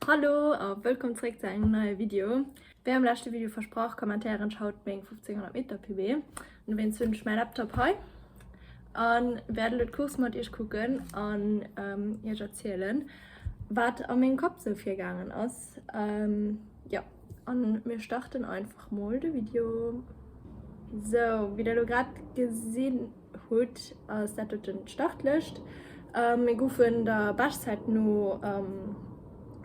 Hallo a wëllkomm zréck zu engem neie Video. Wéi am leschte Video versprach, kommentéieren ech haut meng 1500 Meter PB. An dowéinst hunn ech mäi Laptop hei an wäert elo d'Course mat iech kucken an ähm, iech erzielen, wat a mengem Kapp sou virgaangen ass. Ähm, ja, an mir starten einfach mol de Video. Sou, wéi der elo grad gesinn. Hutt, ass dat doten d'Startlëscht. Mir goufen der Beschtzäit no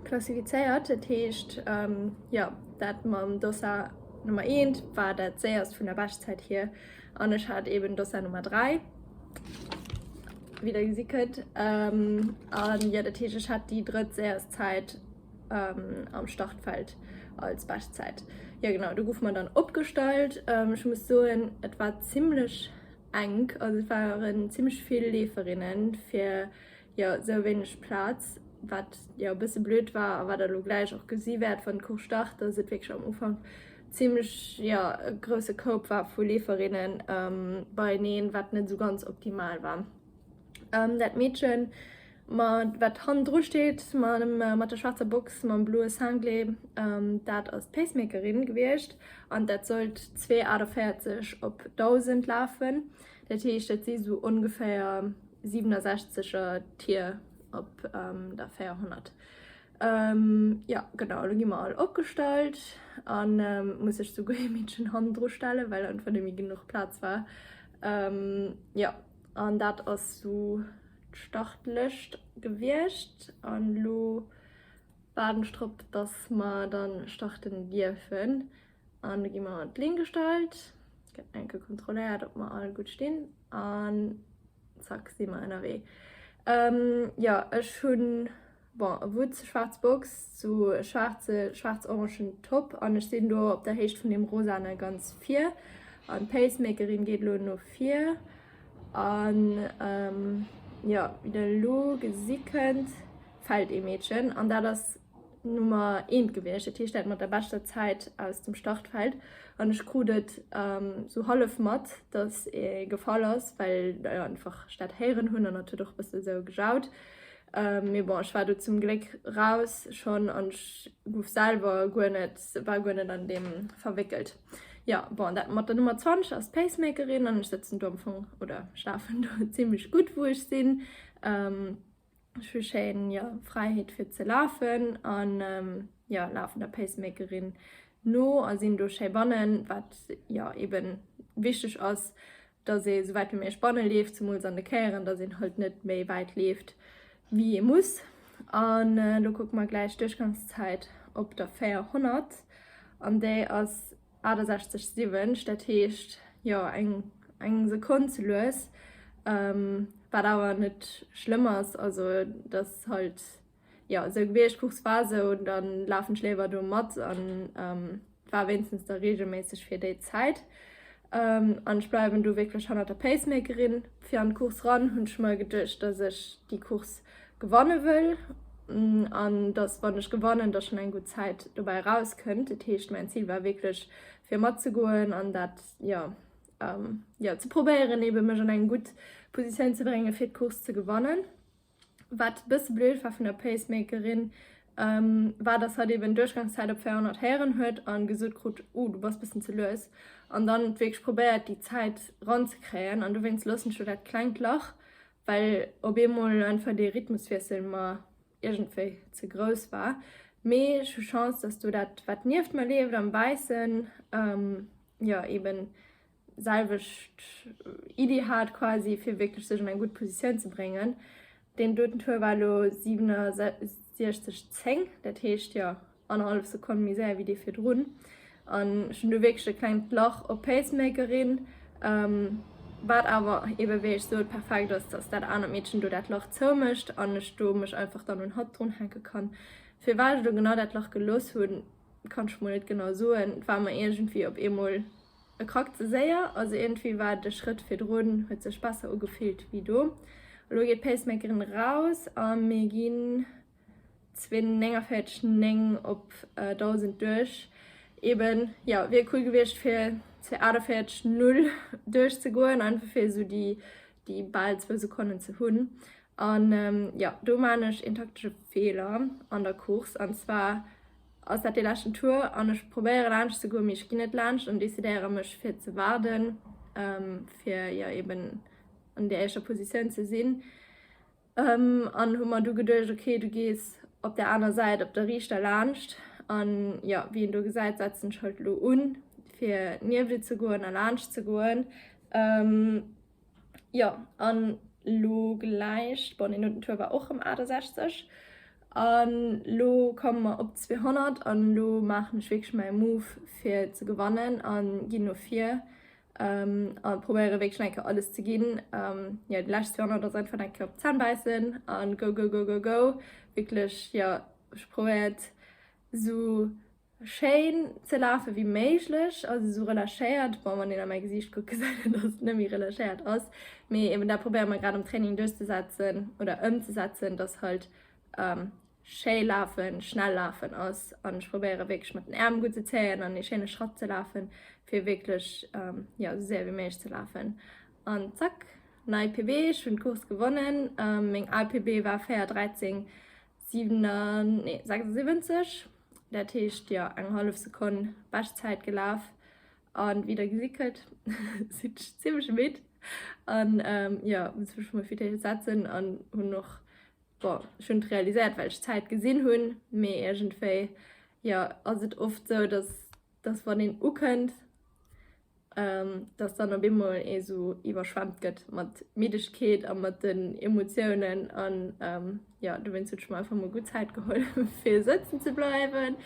klassifizéiert, dat heescht jo dat mam Dossard Nummer eent war dat séierst vun der Beschtzäit hier an ech hat eben Dossard Nummer dräi, wéi der gesi kënnt, an jo dat heescht ech hat déi drëtt séierst Zäit am Startfeld als Bestzäit. Ja genau, du gouf man dann opgestallt. Ähm, ich muss soen, et war ziemlich eng, also es waren ziemlich viele Leeferinnen fir ja so wenig Platz, wat ja e bësse blöd war a wat der lo gleich och gesi wäert wann d'Cours start, dass et wirklich am Ufank ziemlich ja e grouse Koup war vu Leeferinnen ähm, beieneen, wat net so ganz optimal war. Ähm, dat Mädchen Ma wat hannen dru steet, mat der schwaarzer Box mam bloe Cinglé, dat ass d'Pacemakerin gewiescht an dat sollt zwee 48 op 1.000 lafen. Dat heescht, dat si esou ongeféier 67er Tier op der 400. Jo genau, elo gi mer all opgestallt a muss sech souguer ee Meedchen hannen dru stellen, well einfach net méi genuch Plaz war. Jo an dat ass esou d'Startlëscht gewiescht an elo waarden ech drop dass mer dann starten dierfen an do gi mer an d'Linn gestallt, gëtt enke kontrolléiert ob mer all gutt stinn an zack si mer ënnerwee. Jo ech hunn. Bon, e Wutt, schwaarz Box, sou e schwaarze, schwaarz-orangen Top, an ech sinn do op der Héicht vun deem rosane ganz vir, an d'Pacemakerin geet elo no vir, an jo, wéi der elo gesi kënnt, fält ee Meedchen, an dat ass d'Nummer eent gewiescht, dat heescht dat mat der beschter Zäit aus dem Startfeld, an ech krut et sou hallef mat, datt ee gefall ass, well ech einfach dat héieren hunn, an et huet och e bësse sou gejaut. Mee bon, ech war do zum Gléck raus schonn an ech gouf selwer guer net, war guer net an deem verwéckelt. Jo, bon, dat mat der Nummer 20 ass d'Pacemakerin an ech sëtzen do am Fong, oder schlafen do zimmlech gutt, wou ech sinn. Ech hu schéin, jo, Fräiheet fir ze lafen an, jo, lafen der Pacemakerin no a sinn do schéi bannen, wat, jo, eben wichteg ass. dass ee sou wäit wéi méiglech banne leeft, zemools an de Käieren, dass een halt net méi wäit leeft wéi ee muss. An elo kucke mer gläich d'Duerchgangszäit op der 400 an déi ass 68 siwwensch, dat heescht jo eng eng Sekonn ze lues, wat awer net schlëmm ass, also et ass halt Jo, esou Gebiergscourse war esou, da lafen ech léiwer do mat an war wéinstens da regelméisseg fir déi Zäit. An ech bleiwen do wierklech hannert der Pacemakerin. Fir an d'Course ran hunn ech mer geduecht, dass ech déi Course gewanne wëll an dass, wann ech gewannen, dass schonn eng gutt Zäit dobäi erauskënnt. Dat heescht, mäin Zil war wierklech fir matzegoen an dat, jo, jo, ze probéieren, ebe mech an eng gutt Positioun ze bréngen, fir d'Course ze gewannen. Wat e bësse blöd war vun der Pacemakerin, war dass hatt eben d'Duerchgangszäit op 400 héieren huet a gesot krut, uh du bass bëssen ze lues, an dann et wierklech probéiert déi Zäit ranzekréien, an dowéinst loossen ech lo dat klengt Lach, well op eemol einfach dee Rhythmuswiessel mer iergendwéi ze grouss war. Mee ech hu Chance dass do dat wat nieft mer leeft am Wäissen, jo eben selwecht Iddi hat quasi, fir wierklech sech an eng gutt Positioun ze bréngen. Deen doten Tour war elo 67,10, dat heescht, jo, annerhallef Sekonn méi séier wéi dee virdrun. An ech hunn do wierklech e klengt Lach op d'Pacemakerin, wat awer ebe wéi ech sot perfekt ass, dass dat anert Meedchen do dat Lach zoumécht an ech do mech einfach dann un hatt dronhänke kann. Firwat ech elo genau dat Lach gelooss hunn, kann ech mol net genau soen, et war mer iergendwéi op eemol E krackt ze séier, also iergendwéi war de Schrëtt virdrun, huet sech besser ugefillt wéi do. Elo geet d'Pacemakerin eraus a mir ginn zwee 49 9 op 1000 duerch. Eben, ja, wier cool gewiescht fir zwee 48 0 duerchzegoen, einfach fir esou déi déi bal zwou Sekonnen ze hunn. An, ja, do man ech een taktesche Feeler an der Course, an zwar, Ass dat dee leschten Tour an ech probéiere laanscht ze goen, mee ech ginn net laanscht an decidéiere mech fir ze waarden, fir jo eben an där éischter Positioun ze sinn. An hu mer du geduecht, ok, du gees op där aner Säit op der riichter laanscht. An jo, wéi een do gesäit, setzen ech halt elo un, fir nieft et ze goen a laanscht ze goen. Jo an lo gläich, bon deen no den Tour war och rem 68 an lo komme mer op 200 an lo maachen ech wierklech mäi Move fir ze gewannen an ginn no vir an probéieren wierklech eng Kéier alles ze ginn. Jo déi lescht 200 ass einfach eng Kéier op d'Zänn bäissen an go go go go go wierklech jo ech probéiert esou Schéin ze lafe wéi méiglech, also sou relâchéiert, bon wann een a mäi Gesiicht kuckt gesäit een dass et net méi relâchéiert ass, mee eben dat probéiere mer grad am Training duerchzesetzen oder ëmzesetzen, dass halt schéi lafen, schnell lafen ass an ech probéiere wierklech mat den Äerm gutt ze zéien an ee schéine Schratt ze lafen, fir wierklech jo sou séier wéi méiglech ze lafen an zack, nei PB, ech hunn d'Course gewonnen, meng al PB war 4:13. 76, dat heescht jo eng hallef Sekonn Beschtzäit gelaf an wéi der gesi kënnt sinn ech zimmlech midd an jo muss mech mol fir d'éischt setzen an hunn och bon ech hunn et realiséiert well ech d'Zäit gesinn hunn mee iergendwéi jo ass et oft sou dass dass wann een ukënnt, dass dann op eemol ee sou iwwerschwemmt gëtt mat Middegkeet a mat den Emotiounen. An jo, dowéinst hunn ech mer einfach mol gutt Zäit geholl, fir sëtzen ze bleiwen,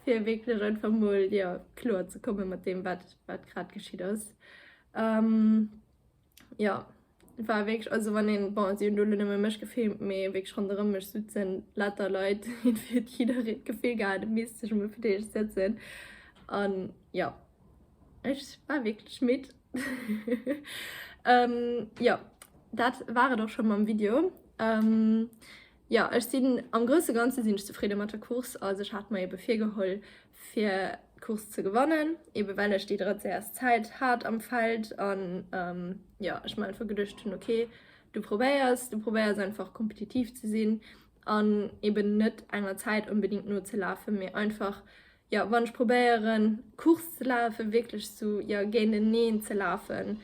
fir wierklech einfach mol, jo, kloer ze komme mat deem, wat grad geschitt ass. Jo, war wierklech, also wann een, bon si hunn do elo nëmme mech gefilmt, mee wierklech ronderëm mech souzen later Leit, irgendwie huet jiddereen d'Gefill gehat e misst sech emol fir d'éischt sëtzen an jo ech war wierklech midd. Jo dat war et och scho mam Video. Jo, ech sinn am grousse Ganze sinn ech zefridde mat der Course. Also ech hat mer eebe virgeholl fir d'Course ze gewannen, eebe well ech déi drëtt séierst Zäit hat am Feld. An jo, ech mer einfach geduecht hunn, ok, du probéiers, du probéiers einfach kompetitiv ze sinn an eeben net enger Zäit onbedingt nozelafen, mee einfach jo wann ech probéieren Course ze lafen, wierklech sou jo géinteneen ze lafen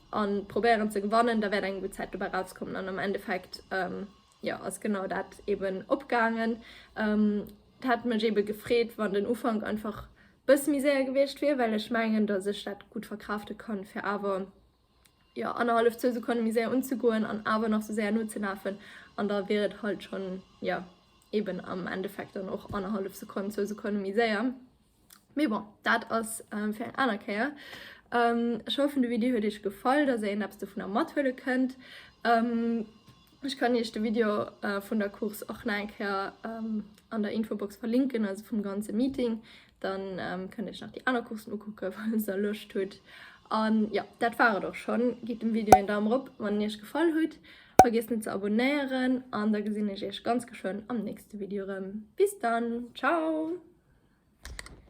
an probéieren ze gewannen, da wäert eng gutt Zäit dobäi rauskommen an am Endeffekt jo ass genau dat eben opgaangen. Et hätt mech eben gefreet wann den Ufank einfach bësse méi séier gewiescht wier, well ech mengen dass ech dat gutt verkraafte kann fir awer jo, annerhallef, zwou Sekonne méi séier unzegoen an awer nach sou séier nozelafen an da wier et halt schonn, jo, eben am Endeffekt dann och annerhallef Sekonn, zwou Sekonne méi séier. Mee bon, dat ass fir eng aner Kéier. Ech hoffen, de Video huet iech gefall, dass der een eppes dovunner mathuele kënnt. Ech kann iech de Video vun der Course och nach eng Kéier an der Infobox verlinken, also vum ganze Meeting. Dann kënnt iech nach déi aner Coursen ukucken, falls der Loscht hutt. An jo, dat war et och schonn. Gitt dem Video een Daum rop, wann en iech gefall hutt. Vergiesst net ze abonéieren an da gesinn ech iech ganz geschwënn am nächste Video erëm. Bis dann, ciao!